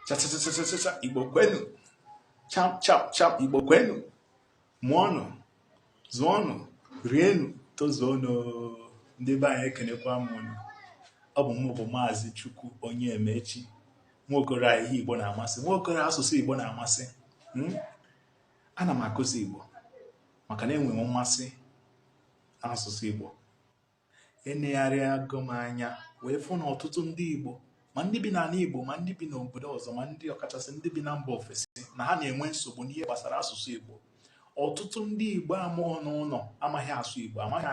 chachachachacha igbo kwenu cha cha cha igbo kwenu mụọnụ zụọnụ rienu tozuonụ ndị be anyị ekenekwa m unu ọ bụ mụ bụ maazị chukwuonye emechi nwaokoro a ihe igbo na-amasị nwaokoro asụsụ igbo na-amasị hmm? ana m akụzi igbo maka na enwere m mmasị n'asụsụ igbo enegharịago m anya wee fụ na ọtụtụ ndị Igbo ma ndị bi n'ana Igbo ma ndị bi n'obodo ọzọ ma ndị ọkachasị ndị bi na mba ofesi na ha na-enwe nsogbu n'ihe gbasara asụsụ Igbo ọtụtụ ndị Igbo a mụọ n'ụnọ amaghị asụ Igbo amaghị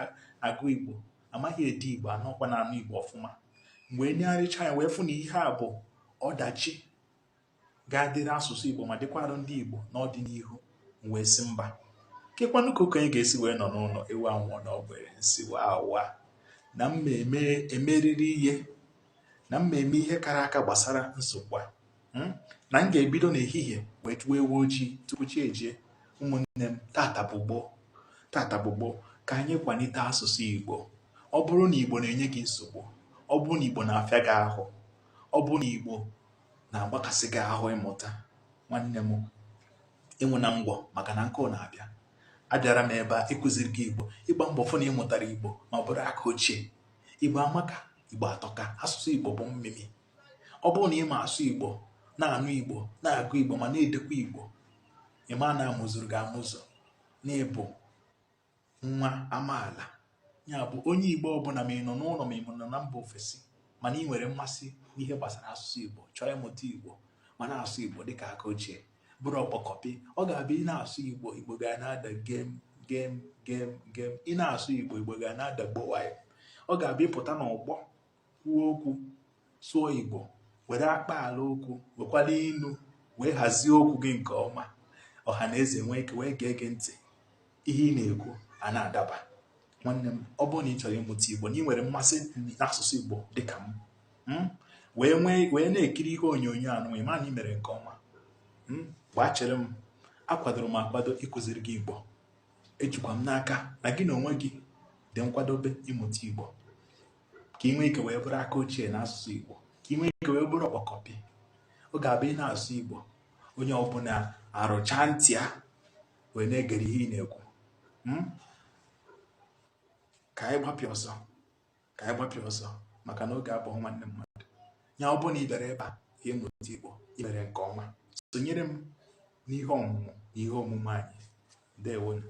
agụ Igbo amaghị ede Igbo anọkwa na-anụ Igbo ọfụma mgbe m negharịcha anya wee fụ na ihe a bụ ọdachi ga-adịrị asụsụ Igbo ma dịkwara ndị Igbo n'ọdịnihu m wee sị mba kekwanụ ka okenye ga-esi wee nọ n'ụnọ ewu anwụọ n'ọgbịrị m sị waa na m ga-emerịrị ihe na m ga-eme ihe kara aka gbasara nsogbu a hmm? na m ga-ebido n'ehihie wee chụwa ewu ojii tupu chi ejie ụmụnne m tata bụ gboo tata bụ gboo ka anyị kwanite asụsụ Igbo ọ bụrụ na Igbo na-enye gị nsogbu ọ bụrụ na Igbo na-afịa gị ahụ ọ bụrụ na Igbo na-agbakasị gị ahụ ịmụta nwanne m ịnwụ na ngwọ maka na nkụ na-abịa abịara m ebe a ịkụziri gị igbo ịgba mbọ fụ na ị mụtara igbo ma ọ bụrụ aka ochie igbo amaka igbo atọka asụsụ igbo bụ mmimi ọ bụrụ na ị ma asụ igbo na-anụ igbo na-agụ igbo ma na-edekwa igbo ị ma na a mụzuru gị amụzu n'ịbụ nwa amaala ya bụ onye igbo ọbụna ma ị nọ n'ụnọ ma ị nọ na mba ofesi mana ị nwere mmasị n'ihe gbasara asụsụ igbo chọọ ịmụta igbo ma na-asụ igbo dịka aka ochie bụrụ ọkpọkọpị ọ ga-abụ ị na-asụ igbo igbo ga na-ada gem gem gem gem ị na-asụ igbo igbo ga na-ada gbowayo ọ ga-abụ ị pụta n'ọgbọ kwuo okwu sụọ igbo were akpaala okwu wekwara inu wee hazie okwu gị nke ọma ọha na eze nwee ike wee gee gị ntị ihe ị na-ekwu a na-adaba nwanne m ọ bụrụ na ị chọrọ ịmụta igbo na ị nwere mmasị n'asụsụ igbo dịka m hmm, wee nwee wee na-ekiri ihe onyonyo anụ ị ma na ị mere nke ọma hmm, gbaa chere m akwadoro m akwado ịkụziri gị igbo ejikwa m n'aka na gị na onwe gị dị nkwadobe ịmụta igbo ka ị nwee ike wee bụrụ aka ochie na asụsụ Igbo ka ị nwee ike wee bụrụ ọkpọkọpị ọ ga-abụ ị na-asụ Igbo onye ọbụna arụcha ntị ya wee na-egere ihe ị na-ekwu hmm? ka anyị gbapịa ọsọ ka anyị gbapịa ọsọ maka na oge abụghị nwanne mmadụ ya ọ bụrụ na ị bịara ebe a ịmụta Igbo i mere nke ọma sonyere m n'ihe ọmụmụ na ihe omume anyị ndewonu